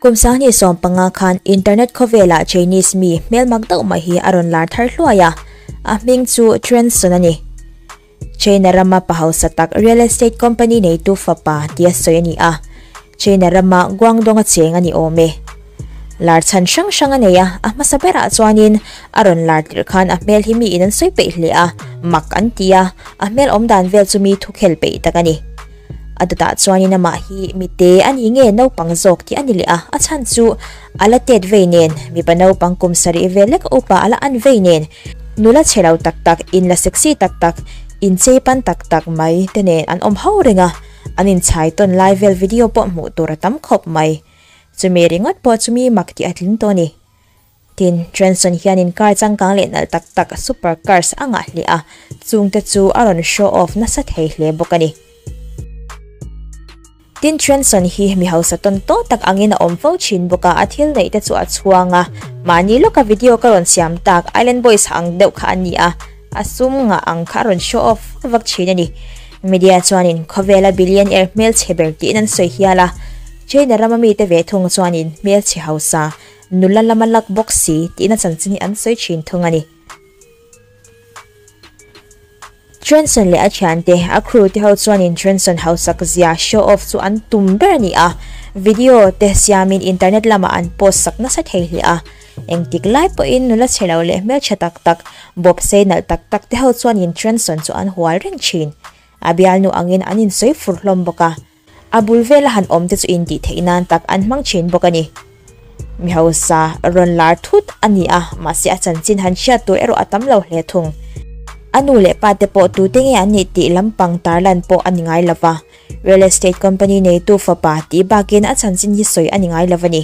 Kum sangni sawm panga khan internet khawvela Chinese mi hmelmak deuh mai hi a rawn lar thar hluai a, a hming chu Chuan Sun a ni. China rama pa hausa tak real estate company neitu fapa tia sawi a ni a, China rama Guangdong a cheng a ni awm e. Lar chhan hrang hrang a nei a, a hmasa berah chuanin a rawn lar tirh khan a hmel hi miin an sawi peih hle a, mak an ti a, a hmel awm dan vel chu mi thukhel peih tak a ni. A tatah chuanin amah hi mite a ni nge naupang zawk tih a ni leh a, a chhan chu a la tet vei nen, mipa naupang kum sarih ve lek upa a la an vei nen, nula che lo tak tak, in la sexy tak tak, in chei pan tak tak mai te nen an awm ho reng a, an inchhai tawn lai vel video pawh hmuh tur a tam khawp mai. Chumi ringawt pawh chu mi mak tih a tling tawh a ni. Tin, Trenson hianin car changkang leh nalh tak tak, super cars, a ngah hle a, chung te chu a rawn show off nasa thei hle bawk a ni. Tin, Trenson hi mi hausa tawn tawn tak angin a awm fo thin bawk a, a thil neih te chu a chhuang a, mahni lawka video ka rawn siam tak, Island Boys ang deuh kha a ni a, a sum ngah ang kha a rawn show off vak vak thin a ni. Media chuanin khawvela billionaire hmelchhe ber tiin an sawi hial a, China rama mite ve thung chuanin hmelchhe hausa, Nula lama lak bawk si tihna chanchin hi an sawi thin thung a ni. Trenson leh a thiante, a crew te ho chuanin Trenson hausak zia, show off, chu an tum ber a ni a. Video te siamin internet lamah an post sak nasa thei hle a. Engtik lai pawhin nula chhe lo leh hmeltha tak tak, bawp sei nalh tak tak te ho chuanin Trenson chu an hual reng thin. A bialnu angin an insawi fur hlawm bawk a. A bul vela han awm te chu intih theih nan tak an hmang thin bawk a ni. Mi hausa rawn lar thut a ni a, mahse a chanchin han hriat tur erawh a tam lo hle thung. A nu leh pa te pawh tute nge an nih tih lam pang tar lan pawh a ni ngai lo va, real estate company neitu fapa tih bakin a chanchin hi sawi a ni ngai lo a ni.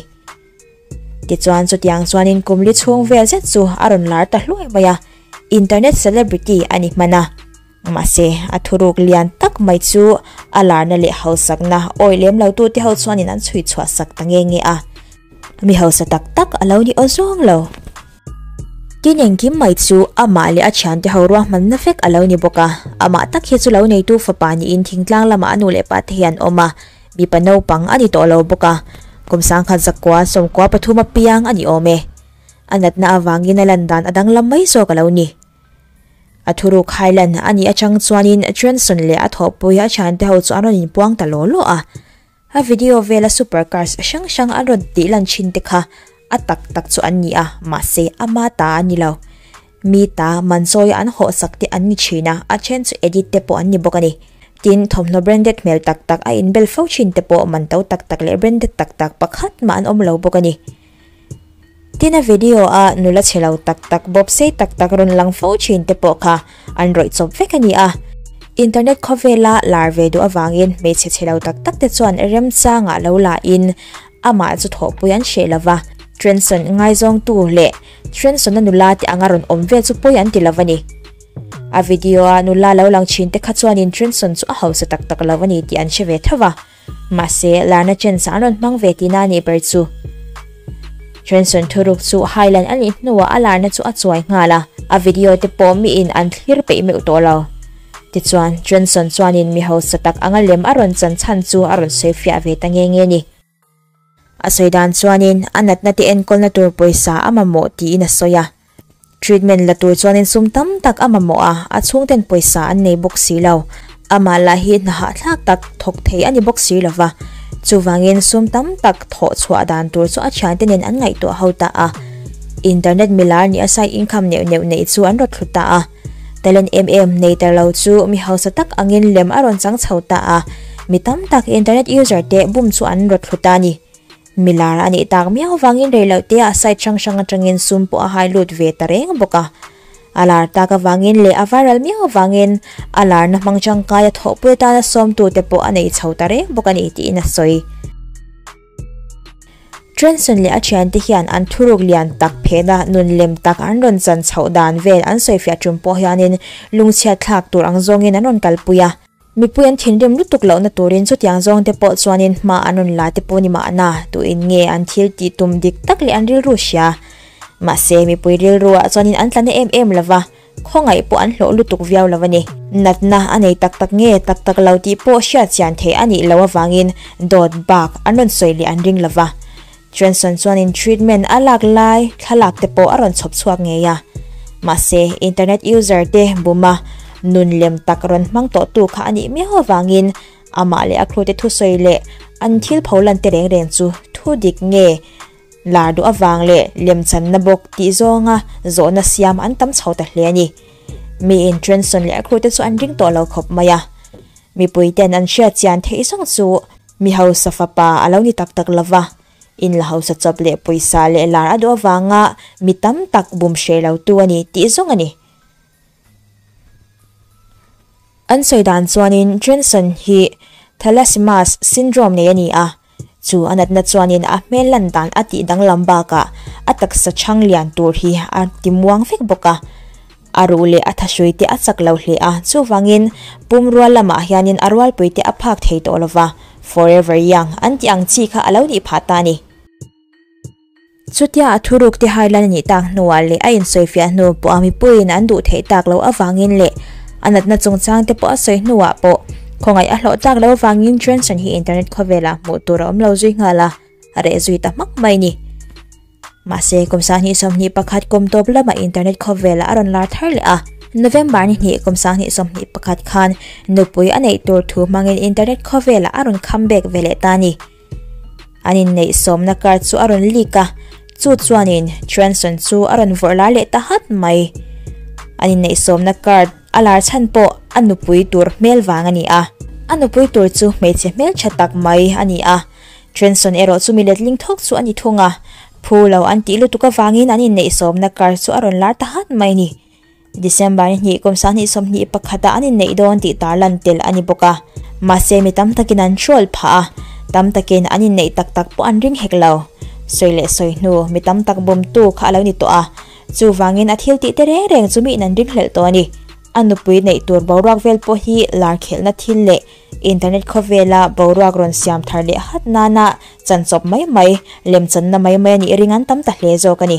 Tichuan chutiang chuanin kumli chhung vel zet chu a rawn lar ta hluai mai a, internet celebrity a ni hman a. Mahse, a thuruk lian tak mai chu a larna leh hausakna awi lem lo tu te ho chuanin an chhui chhuah sak ta nge nge a. Mi hausa tak tak a lo ni aw zawng lo. Tin engkim mai chu amah leh a thiante ho ruahmanna vek a lo ni bawk a. Amah tak hi chu lo neitu fapa niin thingtlang lamah a nu leh pa te hi an awm a. Mipa naupang a ni tawh lo bawk a, kum sangkhat zakua sawmkua pathum apiang a ni awm e. A natna avangin a lan dan a danglam mai zawk a lo ni. A thuruk Hailan a nih atang chuanin Chönson leh a thawhpui a thiante ho chu an rawn inpuang ta law law a. A video vela supercars hrang hrang an rawn tihlan thinte kha A tak tak chu an ni a, mahse ama ta a ni lo. Mi ta man sawi a an hawhsak te an ni thin a, a then chu edit te pawh an ni bawk a ni. Tin, thawmhnaw branded hmel tak tak a inbel fo thin te pawh man to tak tak leh branded tak tak pakhat mah an awm lo bawk a ni. Tin, a video a nula che lo tak tak, bawp sei tak tak, rawn lang fo thin te pawh kha an rawih chawp vek a ni a. Internet khawvela lar ve duh avangin hmeichhe che lo tak tak te chuan remchangah lo la in, Amah chu thawhpui an hreh lo va, Trenson ngaizawngtu leh Trenson-a nula te anga rawn awm vel chu pawi an ti lo a ni. A video-a nula lo lang chhin te kha chuanin Trenson chu a hausa tak tak lo a ni tih an hre ve thauh a. Mahse, Larna Chance-a an rawn hmang ve tihna a nih ber chu. Trenson thuruk chu Highland a nih hnuah a Larna chu a chuai nghal a, a video te pawh miin an thlir peih meuh tawh lo. Tichuan, Johnson chuanin mi hausa tak anga lem a rawn chan chhan chu a rawn sawi fiah ve ta nge nge ni. A sawi dan chuanin, a natna te enkawlna tur pawisa a mamawh tiin a sawi a. Treatment la tur chuanin sum tam tak a mamawh a, a chhungten pawisa an nei bawk si lo. Amah lah hi hna hahthlak tak thawk thei a ni bawk si lo va, chuvangin sum tam tak thawh chhuah dan tur chu a thiante nen an ngaihtuah ho ta a. Internet milar nia side income neuh neuh neih chu an rawt thlu ta a. Talent em em nei tar lo chu mi hausa tak angin lem a rawn chang chho ta a, mi tam tak internet user te bum chu an raw thlu ta a ni. Mi lar a nih tak miau vangin rei loh te a site hrang hrang atangin sum pawh a hai lut ve ta reng bawk a. A lar tak avangin leh a viral miau avangin a larna hmang tangkai a thawhpui atana sawmtu te pawh a nei chho ta reng bawk a ni tiin a sawi. Trenson leh a thiante hian an thuruk lian tak phehna nun lem tak an rawn chan chhoh dan vel an sawifiah ṭum pawh hianin lungchhiat thlak tur ang zawngin an rawn kalpui a. Mipui an thinrim lutuk lohna turin chutiang zawngte pawh chuanin hma an rawn la te pawh ni mahna, tuin nge an thil tih tum dik tak leh an rilru hria? Mahse, mipui rilruah chuanin an tla na em em lova. Khawngaih pawh an hlawh lutuk viau lo a ni. Natna a nei tak tak nge tak tak lo tih pawh hriatchian theih a nih loh avangin dawt bak an rawn sawi leh an ring lo va. Trenson chuanin treatment a lak lai thlalak te pawh a rawn chhawp chhuak ngei a. Mahse, internet user te buma nun lem tak rawn hmang tawhtu kha a nih miau avangin amah leh a khrute thusawi leh an thil pho lan te reng reng chu thu dik nge Lar duh avang leh lem channa bawk tih zawnga zawhna siam an tam chho ta hle a ni. Mi intrensawn leh a khrute chu an ring tawh lo khawp mai a. Mipui ten an hriat chian theih zawng chu mi hausa fapa a lo ni tak tak lo va, in la hausa chawp leh pawisa leh lar a duh avanga mi tam tak bum hreh lo tu a ni tih zawng a ni. An sawi dan chuanin Jensen hi Thalassimas syndrome nei a ni a, chu a natna chuanin a hmel lan dan a tih danglam bakah a taksa chhang lian tur hi a timuang vek bawk a, a ruh leh a thahrui te a chak lo hle a, chuvangin pum rual lamah hianin a rualpui te a phak thei tawh lova, forever young an tih ang chi kha a lo nih phah ta a ni. Chutia a thuruk te hailan a nih tak hnuah leh a insawifiah hnu pawha mipuiin an duh theih tak loh avangin leh a natna chungchang te pawh a sawi hnuah pawh khawngaih a hlawh tak lo avangin Johnson hi internet khawvelah hmuh tur a awm lo zui nghal a, a reh zui ta hmak mai ni. Mahse, kum sanghnih sawmhnih pakhat kum tawp lama internet khawvelah a rawn lar thar leh a. November ni hnih kum sanghnih sawmhnih pakhat khan nupui a neih tur thu hmangin internet khawvelah a rawn comeback ve leh ta a ni. An inneih sawmna kar chu a rawn leak a, chu chuanin Transon chu a rawn vawrh lai leh ta hat mai. An inneih sawmna kar a lar chhan pawh a nupui tur hmel vang a ni a. A nupui tur chu hmeichhe hmel tha tak mai a ni a, Transon erawh chu mi letling thawk chu a ni thung a, phu lo an tih lutuk avangin an inneih sawmna kar chu a rawn lar ta hat mai a ni. December ni hnih kum sang hnih sawm hnih pakhata an inneih dawn tih tarlan tel a ni bawk a, mahse mi tam takin an hrual phah a, tam takin an inneih tak tak pawh an ring hek lo. Sawi leh sawi hnu mi tam tak bumtu kha a lo ni tawh a, chuvangin a thil tihte reng reng chu miin an ring hlelh tawh a ni. A nupui neih tur boruak vel pawh hi lar khelhna thil leh internet khawvela boruak rawn siam thar leh hat nana chanchawp mai mai, lemchanna mai mai a nih ring an tam ta hle zawk a ni.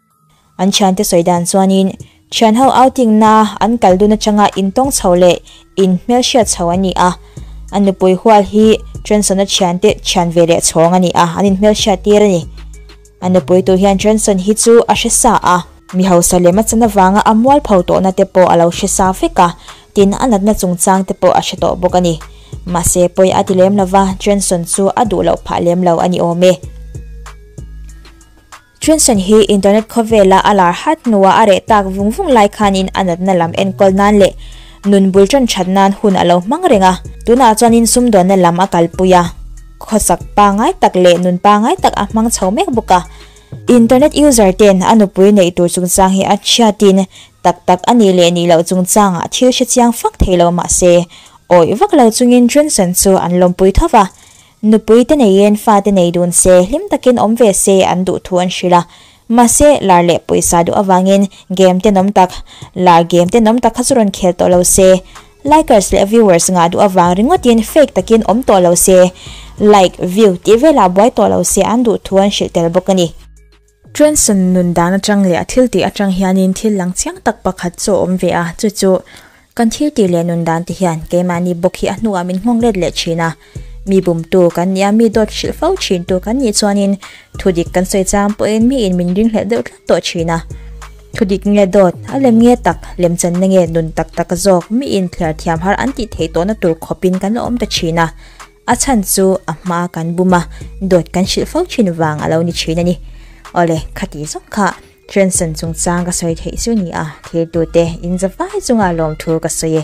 An thiante sawi dan chuanin thian ho outing na an kal dun atanga in tawng chho leh in hmel hriat chho an ni a. A nupui hual hi Trenson-a thiante thian ve leh chhawng a ni a, an in hmel hriat tir a ni. A nupui tu hian Trenson hi chu a hre sa a. Mi hausa lem achan avanga a mual pho tawh na te pawh a lo hre sa vek a, tin a natna chungchang te pawh a hre tawh bawk a ni. Mahse pawi a ti lem lova, Trenson chu a duh loh phah lem lo a ni awm e. Chunsen hi internet khawvela a lar hat hnua a reh tak vung vung lai khanin a natna lam enkawl nan leh nun bul ṭan ṭhat nan hun a lo hmang reng a. Tunah chuan insum dawnna lam a kalpui a, khawsak pangai tak leh nun pangai tak a hmang chho mek bawk a. Internet user ten a nupui neih tur chungchang hi a ṭhiatin tak tak a nih leh nih loh chungchangah thil hre chiang fak thei lo mah se, awih vak lo chungin Chunsen chu an lawmpui tho va. Nupui te neiin fate nei dun se hlim takin awm ve se an duh thu an hrilh a. Mahse, lar leh pawisa duh avangin game te nawm tak, lar game te nawm tak kha chu rawn khel tawh lo se. Likers leh viewers ngah duh avang ringawtin fake takin awm tawh lo se, like, view tih velah buai tawh lo se an duh thu an hrilh tel bawk a ni. Trenson nun dan atang leh a thil tih atang hianin thil lang chiang tak pakhat chu a awm ve a, chu chu, kan thil tih leh nun dan te hian keimahni bawk hi a hnungah min nghawng let leh thin a, mi bumtu kan ni a, mi dawt hrilh fo thintu kan nih chuanin thu dik kan sawi chang pawh in mi in min ring hlelh deuh tlat tawh thin a, thu dik nge dawt a lem nge tak, lem chan na nge nun tak tak zawk, mi in thliar thiam har an tih theih tawh na tur khawp in kan la awm ta thin a, A chhan chu a hma kan bum a, dawt kan hrilh fo thin vang a lo ni thin a ni. Awle, khati zawng kha Trenson chungchang ka sawi theih chu ni a, thlir tute in za vai chunga lawmthur ka sawi e.